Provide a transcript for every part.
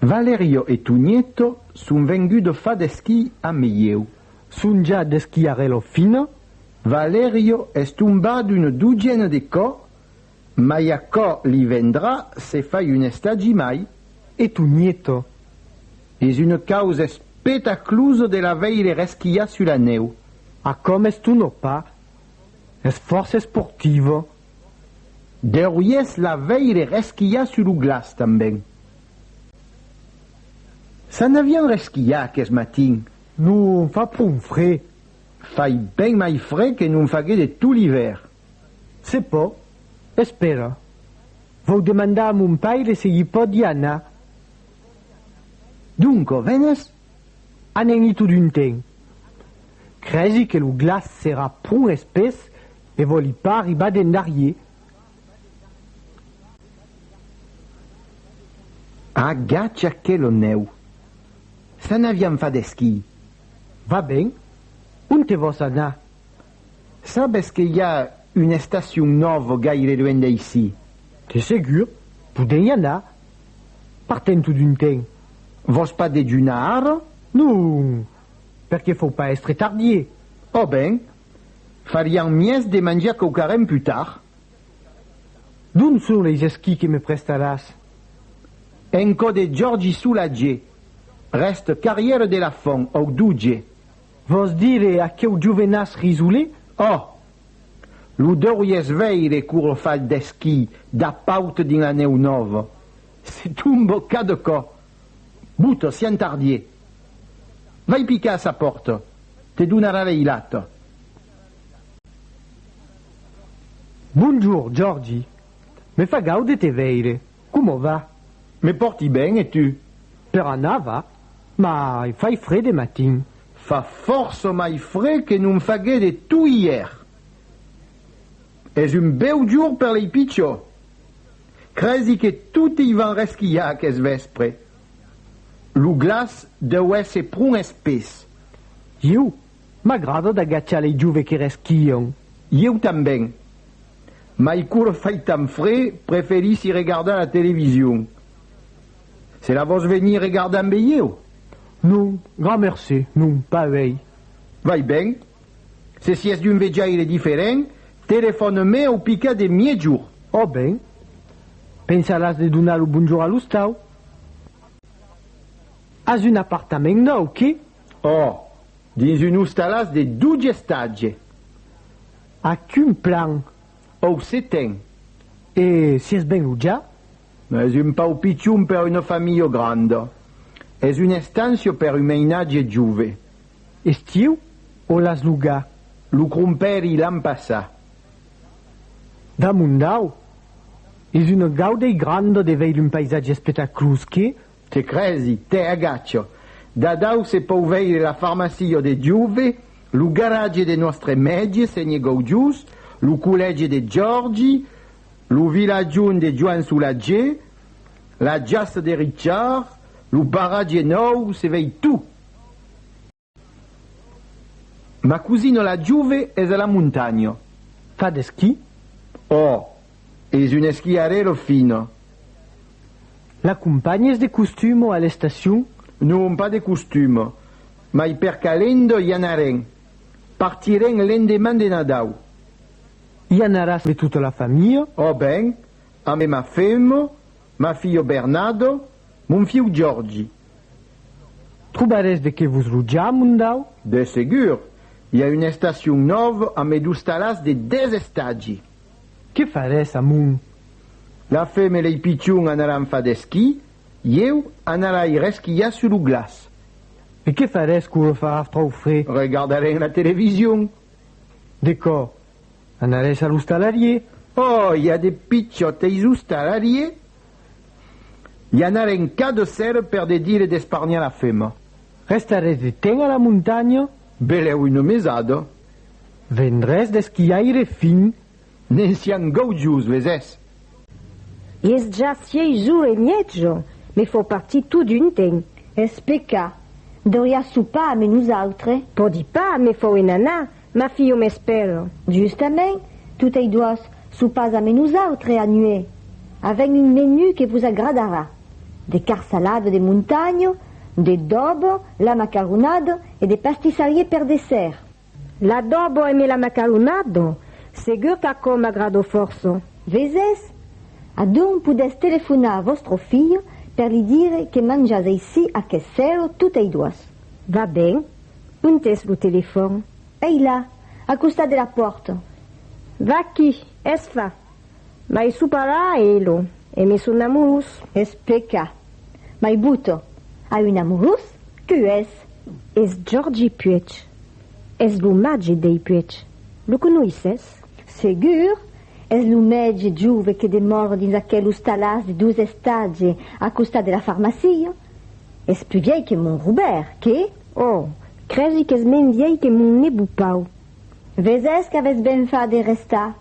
Valerio e Tugneto son vengudo fa d'esquí a Meieu. Sonja d'esquiarè lo fina, Valerio es tombat una dogena de còp, mai aquò li vendrà se fai un estagi mai. E Tugneto es una causa espetaclusa de la veire resquiar sus la nèu. A com es ton opa? Es fòrça esportiva. Deuries la veire resquilhar sus lo glaç tanben. S'an avián resquilhat aqueth matin. Non fa pron fred. Fai ben mai fred que non fagué de tot l'ivèr. Se pò. Espèra. Vau demandar a mon paire se l'i pòdi anar. Doncò, venes? Anègni totun ten. Crèsi que lo glaç serà pron espès e vòli pas arribar d'endarrier. Agacha que lo nèu. S'an aviam fat esquí. Va ben. Onte vòs anar? Sabes que i a un estacion nòvo gaire luènh d'aicí? De segur. Podèm i anar. Partem tot un temps. Vòs pas dejunar ara? Non! Per que fau pas èstre tardier. Ò ben, farián mièg de manjar quauquarren pus tard. D'ont son leis esquís que me prestaràs? En cò de Jòrgi Solatge, rèste carrièr de la Font, au Duge. Vòs dire aqueu jovenàs risolé? Ò! Lo deuries veire coma fa el d'esquí dab paut dins la nèu nòva. Se tomba cada còp. Bota, si entardie. Vai picar a sa pòrta, te donarà l'eilata. Bonjour, Jordi. Me fa gaud de te veire. Coma va? Me pòrti ben, e tu? Per anar va, mai fai fre de matin. Fa fòrça mai fre que non faguèt e tu ièr. Es un bèu jour per lei pichò. Cresi que tote i van resquilhar aqueth vèspre. Lo glaç deu èsser pron espés. Ieu M'agrada d'agachar lei jove que resquion. Ieu tanben. Mai quour fai tant fre preferissi regardar la television. Se la vos venir regardar ambe ieu? Non, grand mercé, non, pas uei. Vai ben. Se sies d'un vejaire diferent, telefòne-me au picat de miègjor. Ò ben. Pensaràs de donar lo bonjor a l'ostau? As un apartament nòu, que? Ò, dins un ostalàs de doutge estatge. Ac un plan, òu seten. E si es ben lo ja? Es un pauc pichon per una familha granda. Es un estancia per un meinatge jove. Estiu o l'as logar? Lo crompèri l'an passà. Damondau, es una gaudei granda de veir un paisatge espetaclós que, Te crèsi, tè agachò. Dadau se pòu veire la farmacia de Diuve, lo garatge de nòstre mètge, senhe Gaujús, lo collège de Jòrgi, lo vilatjon de Joan Solatger, la jaça de Richard, lo paratge nòu, se vei tout! Ma cousina la Juve es a la montanha. Fa d'esquí? Oh, es un esquiarèla fina. L'acompanhes de costuma a l'estacion? Non, pas de costuma, mai per calenda i anarem. Partirem l'endeman de Nadau. I anaràs de tota la familha? Oh ben, ambe ma femna, ma filha Bernada, mon fiu Jordi, Trobarètz de qué vos rojar, mon dau? De segur! I a un estacion nòv a me d'ostalàs de dètz estagi. Qué farètz a mon? La fem e lei pichon anaràn fa d'esquí, ieu anarai resquilhar sur lo glaç. E qué farètz quò lo farà tròu fre? Regardarem la television. Decò, anarètz a l'ostalarier? Ò, i a de pichòt eis ostalarier? Li anaren cas de sèrre per de dire d'esparniar la fema. Rèsta res de temps a la montanha? Belèu una mesada. Ven res d'esquiaire fin? Ne'n sián gaujos, les es. I es ja sièis jours e mièjo, me fau partir todun temps. Es pecat. Deuriás sopar ame nosautres. Pòdi pas, me fau en anar, Ma filho m'espèra. Justament, totei doas, sopàs ame nosautre a nuè. Avèm un menú que vos agradarà. De carsalada de montanha, d'edòbo, la macaronada e de pastissarier per dessèrt. L'adòbo eme la macaronada? Segur qu'aquò m'agrada fòrça. Vesètz? Adonc podètz telefonar a vòstre filho per li dire que manjatz aicí aqueth sèro totei doas. Va ben, Ont es lo telefòn? Ei là, al costat de la pòrta. Vaquí, es fa. Mai sò parà e lo. E me son amorós. Es peca. Mai bota. A un amorós? Que es? Es Jordi Puech. Es lo màger dei Puech. Lo conoisses? Segur! Es lo mètge jove que demòra dins aquel ostalàs de dos estatge al costat de la farmacia. Es plus vièi que mon Robèrt, que? Oh! crègi qu'es men vièi que mon Nebu Pau. Vesés qu'avés ben far de restar.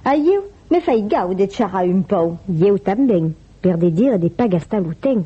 A ieu, me fai gau de charrar un pau. Ieu tanben, per de dire de pas gastar lo temps.